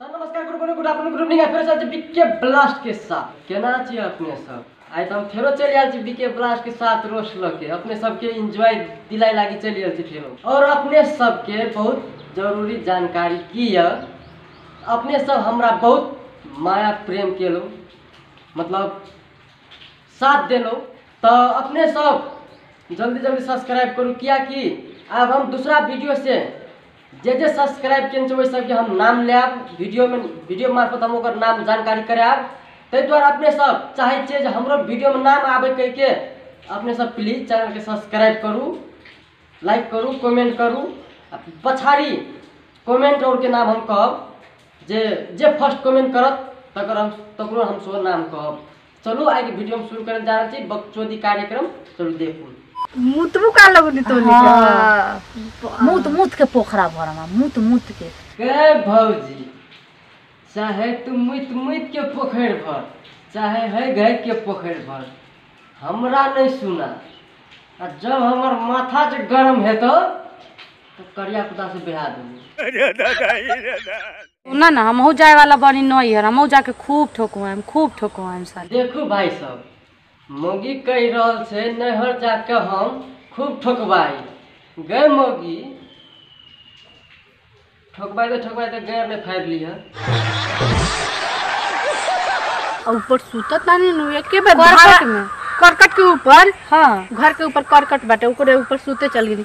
तऽ नमस्कार good morning good afternoon good evening आइ फेरो चल छी बीके ब्लास्टके साथ केना छियै अपने सब आइ तऽ हम फेरो चलि आयल छी बीके ब्लास्टके साथ रोस लऽ के अपने सबके एंजॉय दिलाय लागी चलि आयल छी फेरो और अपने सबके बहुत जरूरी जानकारी की यऽ अपने सब हमरा बहुत माया प्रेम केलहुँ मतलब साथ देलहुँ तऽ अपने सब जल्दी जल्दी सब्सक्राइब करू कियाकि आब हम दूसरा वीडियो से जे जे सब्सक्राइब केने छै ओहि सबके हम नाम लेब वीडियोमे वीडियो मार्फत हम ओकर नाम जानकारी करायब ताहि दुआरे अपने सब चाहै छियै जे हमरो वीडियोमे नाम आबै कहिके अपने सब प्लीज चैनलके सब्सक्राइब करू लाइक करू कमेंट करू आ पछाड़ी कमेंट आओरके नाम हम कहब जे जे फर्स्ट कमेंट करत तकर हम तकरो हम सेहो नाम कहब चलू आइ के वीडियो हम शुरू करल जा रहल छी बकचोदी कार्यक्रम चलू देखू मुतबू का लगनी तो हाँ। मूत मूत के पोखरा भर हमरा मूत मूत के के भौजी चाहे तू मुइत मुइत के पोखरि भर चाहे है गै के पोखरि भर हमरा नहीं सुना आ जब हमर माथा जे गरम हेतो तो करिया कुत्ता से बिहा देबो ना ना हमहू जाए वाला बनी नहीं है हमहू जाके खूब ठोकवाएम खूब ठोकवाएम साले देखू भाई सब मौगी कहि रहल छै नैहर जाके हम खूब ठोकबाई गए मौगी ठोकबाई तो ठोकबाई तो गैर ने फाड़ि लिह और ऊपर सुतत ना नी नु एके बार करकट भागत में करकट के ऊपर हाँ घर के ऊपर करकट बाटे ओकरे ऊपर सुते चल गेली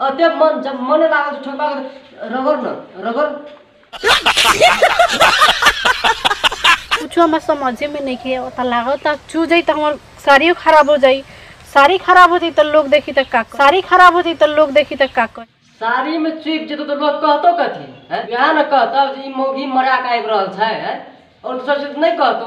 अते मन जब मन लागल तो ठोका कर रगड़ न रगड़ कुछ हमारे समझे में नहीं के तो लागो तो चू जाई तो हमार साड़ियों खराब हो जाई साड़ी खराब हो जाई तो लोग देखी तो का कर। साड़ी खराब हो जाई तो लोग देखी तो का कर। साड़ी में चुप जेतो तो लोग कहतो कथी है यहाँ न कहतो जे ई मौगी मरा के आबि रहल छै है और दोसर से नहीं कहतो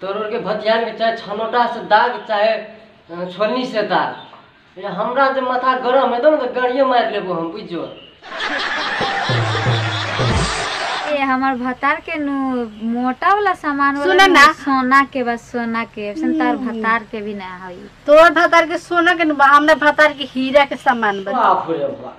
तोरो के भतिया के चाहे छनोटा से दाग चाहे अ, छोलनी से दाग ये हमरा जे माथा गरम हेतौ ने तऽ गाड़िए मारि लेबो हम बुझ जो ए हमर भतार के नु मोटा वाला सामान वाला सुनऽ नु ना। सोना के बस सोना के अइसन तार भतार के भी ना होई तोर भतार के सोना के नु बा, हमरा भतार के हीरा के सामान बा बाप रे बाप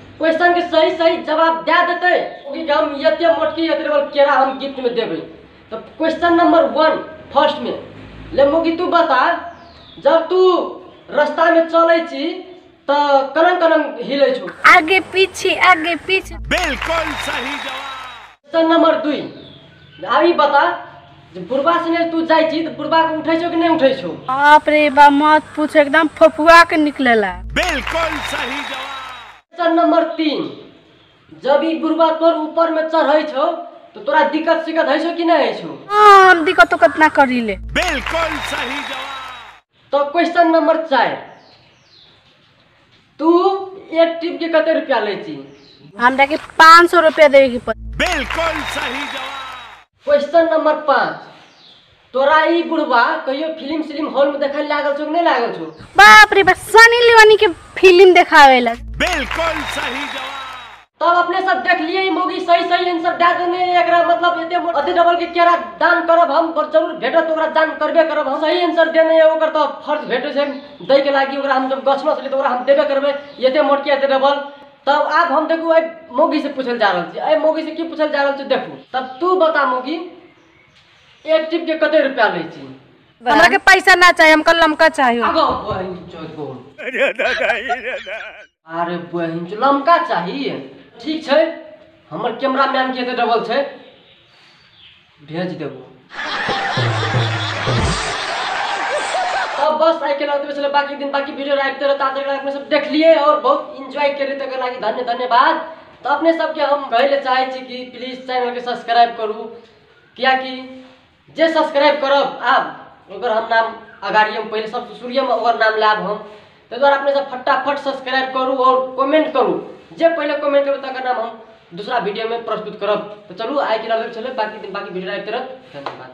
क्वेश्चन के सही सही जवाब दे देते ओकरे के हम एते मोटकी एते बड़ केरा हम गिफ्ट में देबे तो क्वेश्चन नंबर वन फर्स्ट में ले मोगी तू बता जब तू रास्ता में चले छी तो कनम कनम हिले छो आगे पीछे आगे पीछे बिल्कुल सही जवाब क्वेश्चन नंबर दुई अभी बता जे बुढ़बा सने तू जाइ छी तऽ बुढ़बा के उठै छौ कि नहि उठै छौ बाप रे बा मत पूछ एकदम फफुआ के निकलेला बिल्कुल सही जवाब क्वेश्चन नंबर तीन जब ई बुढ़बा तोर ऊपर में चढ़ै छौ तो तोरा दिक्कत सिक्कत है छौ कि नहीं है छौ हाँ, हम दिक्कत उक्कत ना करी ले बिल्कुल सही जवाब तो क्वेश्चन नंबर चार तू एक टिप के कते रुपया ले छी हमरा के पाँच सौ रुपया देवे के पड़ बिल्कुल सही जवाब क्वेश्चन नंबर पाँच तोरा ई बुढ़वा कहियो फिल्म सिल्म हॉल में देखल लागल छौ कि नहीं लागल छौ बाप रे बाप सनी लियोनी के फिल्म देखावे लग बिल्कुल सही जवाब तब अपने सब देख लिए ई मूवी सही सही आंसर दे देने एकरा मतलब एते मोट- अति डबल के केरा दान करब हम पर जरूर भेटत ओकरा दान करबे करब हम सही आंसर देने है ओकर तो फर्ज भेटे छै दै के लागी ओकरा हम जब गछलो छलिए तो ओकरा हम देबे करबे एते मोट के एते डबल तब आब हम देखू एहि मौगी से पूछल जा रहल छी एहि मौगी से की पूछल जा रहल छै देखू तब तू बता मौगी एक टिप के कते रुपया लै छी हमरा के पैसा ना चाहिए हमको लमका चाहिए आगो बहिन चोद बोल अरे दादा रे दादा अरे बहिन चो लमका चाहिए ठीक छै हमर कैमरा मैन के एते डबल छै भेज देबो अब बस आइ के लगे बचल बाकी दिन बाकी वीडियो राखते रहता आज एकरा अपने सब देखलिए और बहुत एंजॉय केलिए तकर लागि धन्य धन्यवाद तो अपने सबके हम कहै ले चाहै छी कि प्लीज चैनल के सब्सक्राइब करू कियाकि जे सब्सक्राइब करब आब ओकर हम नाम अगाड़िए पहिले सब शुरुएमे ओकर नाम लायब हम ताहि दुआरे अपने सब फटाफट सब्सक्राइब करू आओर कमेंट करू जे पहिले कमेंट करबै तकर नाम हम दूसरा वीडियोमे प्रस्तुत करब तऽ चलू आइ के लेल चलू बाकी बाकी वीडियो आबि करब धन्यवाद